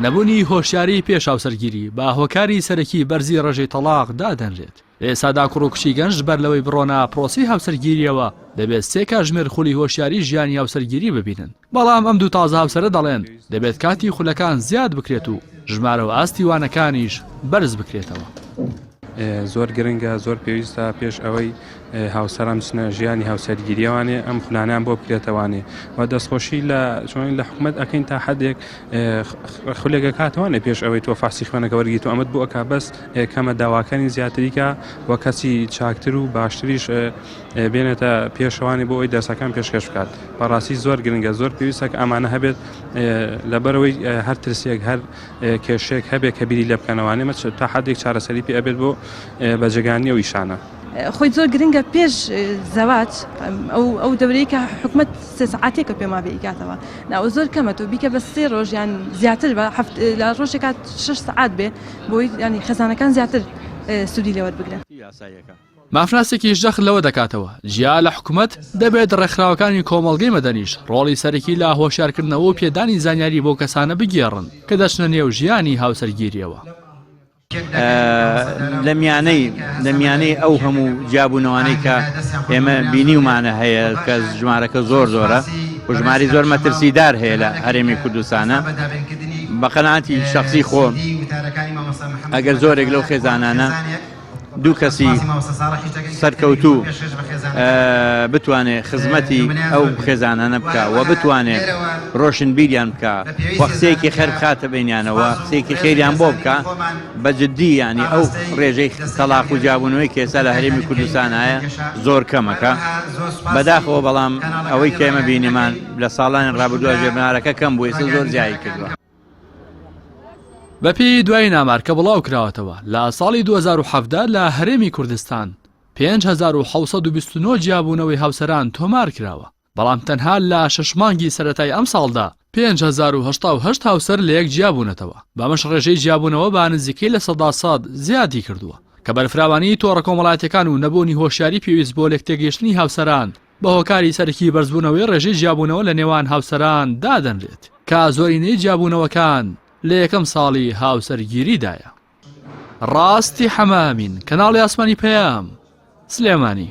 نەبونی هۆشیاری پێش هاوسەرگیری بە هۆکاری سەرەکی بەرزی ڕێژەی تەڵاق دادەنرێت لە ئێسادا کوڕ و کچی گەنج بەر لەوەی بڕۆنە پرۆسی هاوسەرگیریەوە دەبێت سێ کاژمێر خولی هۆشیاری ژیانی هاوسەرگیری ببینن بەڵام ئەم دوو تازە هاوسەرە دەڵێن دەبێت کاتی خولەکان زیاد بکرێت و ژمارە و ئاستی وانەکانیش بەرز بکرێتەوە زۆر گرنگە زۆر پێویستە پێش ئەوەی هاوسەران بچنە ژیانی هاوسەرگیریە وانێ ئەم خولانیان بۆ بکرێتە وانێ و دەستخۆشی لە چۆن لە حکومت ئەەکەین تا حدێک خولێگە کاتوانێ پێش ئەوەی تۆ فاسی خوێنەکە وەرگیت و ئەمەد بۆ ئەک بەس کەمە داواکانی زیاتریکە و کەسی چاکتر و باشتریش بێنێتە پێشوانی بۆ ئەوی دەرسەکان پێشکەش بکات بەڕاستی زۆر گرنگە زۆر پێویستەکە ئەمانە هەبێت لەبەرەوەی هەر ترسێک هەر کێشێک هەبێ کە بیری لە بکەنەوانێ مە تا حدێک چارەسەری پێ ئەبێت بۆ بەجگانی ئەو ئیشانە. خۆی زۆر گرنگە پێش زەواج ئەو ئەو دەورەی کە حکومت سێ سعاتێکە پێما بێیکاتەوە ناوە زۆر کەمە تۆ بیکە بە سێ ڕۆژیان زیاتر بە هەفت لە ڕۆژێکات شش سعات بێ بۆی ینی خەزانەکان زیاتر سوودی لەوەت بگرن یاسایەکە. مافناسێکیش جەخت لەوە دەکاتەوە، جیا لە حکومەت، دەبێت ڕێکخراوەکانی کۆمەڵگەی مەدەنیش ڕۆڵی سەرەکی لە هۆشیارکردنەوە و پێدانی زانیاری بەو کەسانە بگێڕن کە دەچنە نێو ژیانی هاوسەرگیرییەوە. لە میانەی لە میانەی ئەو هەموو جیابوونەوانەی کە ئێمە بینیومانە هەیە کە ژمارەکە زۆر زۆرە و ژماری زۆر مەترسیدار هەیە لە هەرێمی کوردستانە بە قەناتی شخصی خۆ ئەگەر زۆرێک لەو خێزانانە دوو کەسی سەرکەوتوو بتوانێت خزمەتی ئەو خێزانانە بکە و بتوانێت ڕۆشنبیریان بکە و قسەیەکی خێر بخاتە بەینیانەوە قسەیەکی خێریان بۆ بکە بە جددی یانی ئەو ڕێژەی تەڵاق و جیابوونەوەی کە ئێستا لە هەرێمی کوردستان هەیە زۆر کەمەکە بەداخەوە بەڵام ئەوەی کە ئێمە بینیمان لە ساڵانی ڕابردووە ژێربنارەکە کەم بووی سە زۆر زیایی کردووە بەپێی دوای نامارکە بڵاو کراوەتەوە لە ساڵی 2017 لە هەرێمی کوردستان 5629 جیابوونەوەی هاوسەران تۆمار کراوە بەڵام تەنها لە شەش مانگی سەرەتای ئەمساڵدا پێنج هەزار و هەشتا و هەشت هاوسەر لەیەک جیابوونەتەوە، بەمەش ڕێژەی جیابوونەوە بە نزیکەی لە سەدا سەد زیادی کردووە، کە بەرفراوانیی تۆڕە کۆمەڵایەتییەکان و نەبوونی هۆشیاری پێویست بۆ لێکتێگەیشتنی هاوسەران بە هۆکاری سەرەکی بەرزبوونەوەی ڕێژەی جیابوونەوە لە نێوان هاوسەران دادەنرێت، کە زۆرینەی جیابوونەوەکان لە یەکەم ساڵی هاوسەرگیریدایە. ڕاستی حەمە ئەمین، کەناڵی ئاسمانی پەیام، سلێمانی.